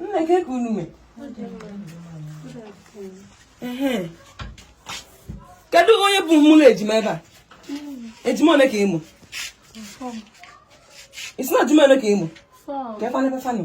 nne kee ka unu mee kedu onye bụ mụ na ejima ebe a ejima ole ka ị mụ ị sị na ejima ole ka ị mụ ka ebe a na-ebe fa nụ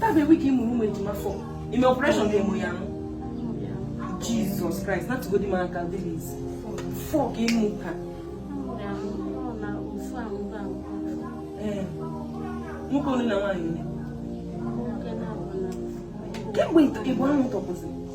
Tabe wiki mụrụ ụmụ ejima four i mee operation ka ị mụ ya nụ Jizọs Kraịst natụgodi m aka dịliz four ka ị mụ ka nwoke onye na nwaanyị kemgbe ntọkị bụ ahụ tọpụziri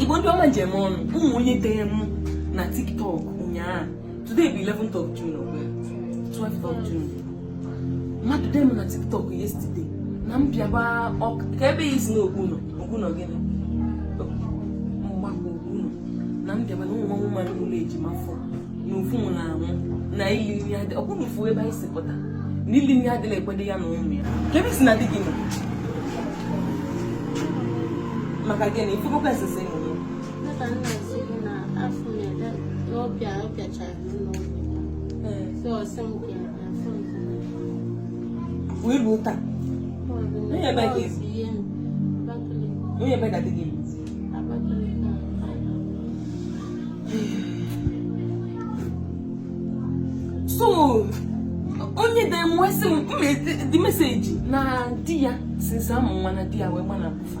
igbo ndị ọma njem ọnụ ụmụ onye dee m na tiktok ụnyaa Today bụ 11th of June ọ bụ 12th of June. Mmadụ dee m na TikTok yesterday na m bịaba kee ebe ị sị n'Okpuno Okpuno gịnị Mgbakwu Okpuno na m bịaba na ụmụ nwa mmadụ mụlụ ejima four na ofu na-anwụ na ili nni adị ọ bụrụ ofu ebe anyị si pụta na ili nni adịrọ ekwedi ya na ụmụ ya kee ebe ị sị na di gị nọ maka gịnị ifugokwa esese wee luo taa onye ebee ka ị si onye ebee ka di gị so onye dee m wee sị m the message na di ya since a mụ nwa na di ya wee gbanapụ fa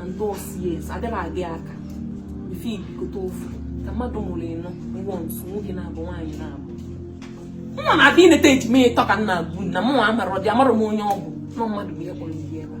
and those years adịrọ adị aka ife ibikọta ofu ka mmadụ mụlụ ịnọ once nwoke naabọ nwaanyị naabọ m na-abịa ineta ejima ịtọ ka nna agbu na mụnwa amarọdị amarọ m onye ọ bụ na ọ mmadụ bụ ihe kpọrọ ibi ebe a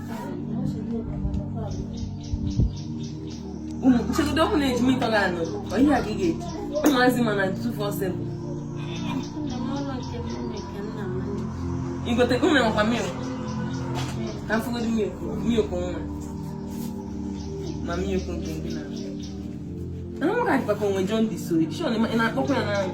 nchegodo ọ bụrụ na ejima ịtọ gị anụ ọ ihe a ka ị ga-eji ụmụazị ma na 247 igote unu enwekwa milk ka m fụgodo milk milk nwa ma milk nke ndị na ana m ka dịkwa ka onwe John dị so ị na-akpọkwa ya n'anwụ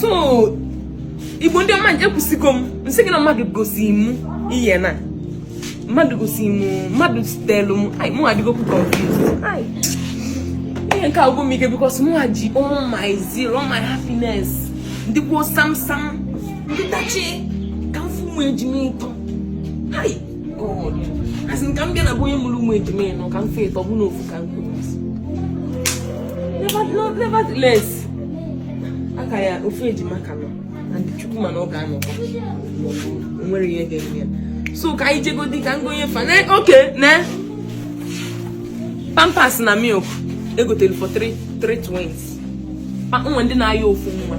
so igbo ndị ọma nje kwụsịgo m nsị gị na mmadụ gosi m ihe na mmadụ gosi m mmadụ zitelu m ai mụ adịgokwu confused ai ihe nke a agwụ m ike because mụwa ji all my zeal all my happiness ndị kwuo sam sam ndị tachi ka m fụ ụmụ ejima ịtọ ai asị m ka m bịa na be onye mụrụ ụmụ ejima ịnọ ka m fee ịtọ bụ n'ofu ka m kwuru nevertheless aka ya ofu ejima ka nọ na ndụ Chukwu ma na ọ ga-anọkwa nwerọ ihe ga-eme ya so ka anyị jegodi ka ngonye fa na oke na pampers na milk egotere for three three twins ma nwee ndị na-ayọ ofu nwa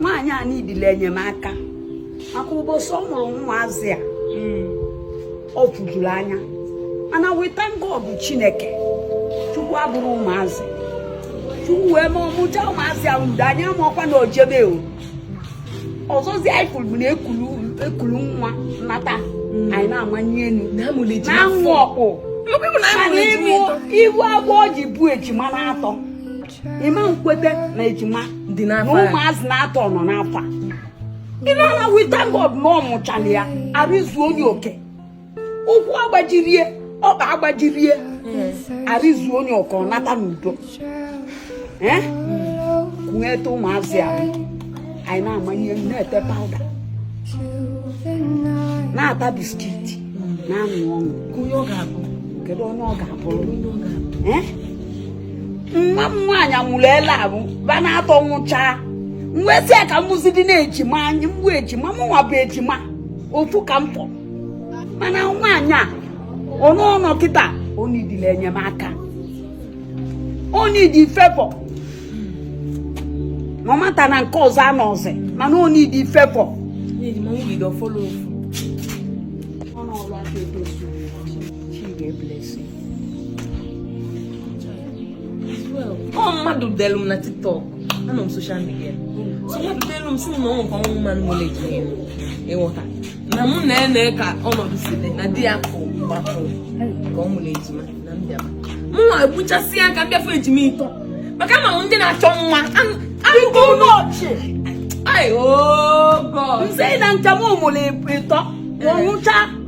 nwaanyị a needịlị enyemaka maka ụbọchị ọ mụrụ ụmụazị a ọ fụjuru anya mana we thank God Chineke Chukwu abụrụ ụmụazị Chukwu wee mee ọ mụcha ụmụazị ahụ mgbe anyị amarọkwa na o jebe o ọzọzi anyị fụrụ na ekulu nwa nata anyị na-amanye elu na-anwụ ọkpụ ị hụ afọ o ji bu ejima n'atọ ị ma nkwete na ejima na ụmụazị n'atọ nọ n'afọ a ịna na we thank God na ọ mụchala ya arụ zuo onye oke ụkwụ agbajirọ ya ọkpa agbajirọ ya arụ zuo onye oke ọ nata n'udo eh? kute ụmụazị a anyị na-amanye na-ete powder na-ata biscuit na-aṅụ ọṅụ kedu onye ọ ga-abụrụ eh? nwa m nwaanyị amụrụ ele abụ fa n'atọ nwụchaa nwezi ya ka mụzi dị na-ejima anyị mgbu ejima mụnwa bụ ejima ofu ka m fọrọ mana nwaanyị a ọnọ ọ nọ kịta ọ needịlị enyemaka ọ needị favour m amata na nke ọzọ anọrọzi mana ọ needị favour ọ mmadụ delu m na TikTok anọ m social media so mmadụ delu m sị m na o nwe o nwe mmadụ nwere ejima ịghọta na mụ na ene ka ọnọdụ si dị na di ya kụ gbapụrụ ka ọ nwere ejima na m bịa mụ na ya ekwuchasịa ka m bịa fụ ejima ịtọ maka ma ndị na-achọ nwa anụgo n'ọchị ai oh God nse na njem ọ mụrụ ịtọ nwụcha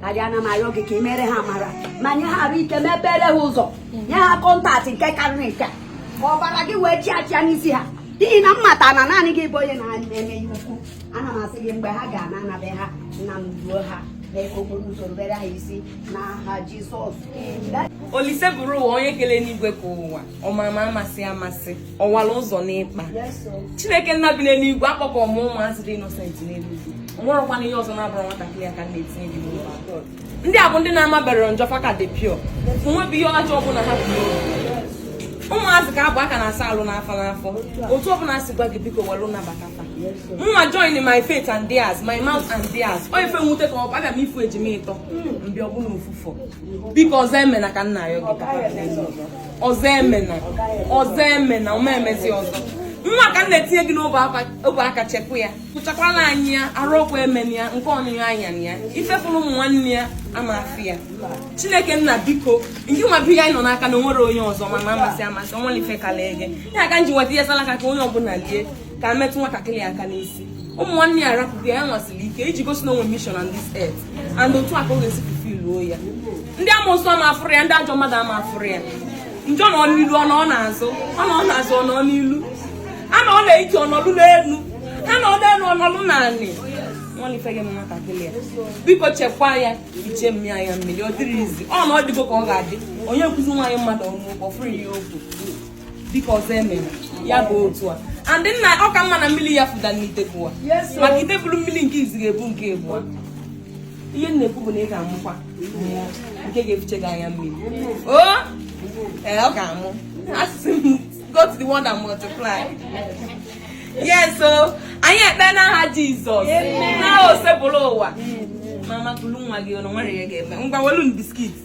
karịa ana m arịọ gị ka ị mere ha amara ma nye ha arụ ike mepere ha ụzọ nye ha kọntaktị nke karịrị nke ka ọbara gị wee chịa achịa n'isi ha n'ihi na mmata na naanị gị bụ onye na-eme ihe ukwu ana m asị gị mgbe ha ga-ana anabe ha nna m duo ha mee ka okporo ụzọ rubere ha isi n'aha Jizọs Olisebụrụwa onye kele enuigwe kee ụwa ọmama amasị amasị ọwara ụzọ n'ikpa chineke nna bi n'eluigwe akpọkuo m ụmụazị dị innocent n'eluigwe o nwerekwana ihe ọzọ na-abụrụ nwatakịrị a ka m na-etinye gị ndị a bụ ndị na-amaberọ njọ fa ka dị pure o nwebi ihe ọjọọ ọbụla ha bụ ụmụazị ka bụ a ka na-asa arụ n'afọ n'afọ otu ọbụla si gwa gị biko were nabata fa nwa join my faith and theirs my mouth and theirs ọ ife mwute ka ọ abịa m ifu ejima ịtọ mbịa ọbụla ofufu biko ọzọ emena ka m na-ayọ gị ọzọ emena ọzọ emena ọ ma emezi ọzọ nwa a ka m na-etinye gị n'ọbụ aka chekwa ya kpụchakwala anyị ya arụ ọkụ emena ya nke ọnụnụ anya na ya ife fụrụ ụmụ nwanne ya ama afụ ya chineke nna biko ngị nwa bi ya anyị nọ n'aka na enwerọ onye ọzọ amama amasị amasị ọnwa ife ka lee gị ya ka m ji weta ihe salaka ka onye ọbụla lie ka metụ nwatakịrị aka n'isi ụmụ nwanne ya arapụghị ya nwasịrị ike iji gosi na o nwe mission on this earth and otu a ka ọ ga-esi fulfiluo ya ndị amoosu ama afụrụ ya ndị ajọ mmadụ ama afụrụ ya njọ nọ n'ilu ọ nọọ n'azụ ọ nọọ n'azụ ọ nọọ n'ilu a nọọ n'anị ọ nọlụ n'elu a nọọ n'elu ọ nọlụ n'anị nwanne ife gị m nwatakịrị ya biko chekwaa ya fichee m anya mmiri ọ dịrị izi ọ na ọ dịgo ka ọ ga-adị onye nkụzi nwaanyị mmadụ ọnụ ụkpọ fụrụ ya okwu biko ọzọ emena ya bụ otu a andị nna ọ ka mma na mmiri ya fụda n'ite bụwa maka ite buru mmiri nke izi ga-ebu nke abụọ ihe m na-ekwu bụ na ị ga-amụkwa mụọ nke ga-efiche gị anya mmiri o oh! ee eh, ọ ga-amụ asịsị m go to the world and multiply yes so anyị ekpe n'aha Jizọs nna Osebụrụwa mama kulu nwa gị ọnụ nwere ihe a ga-eme ngwa welu biskit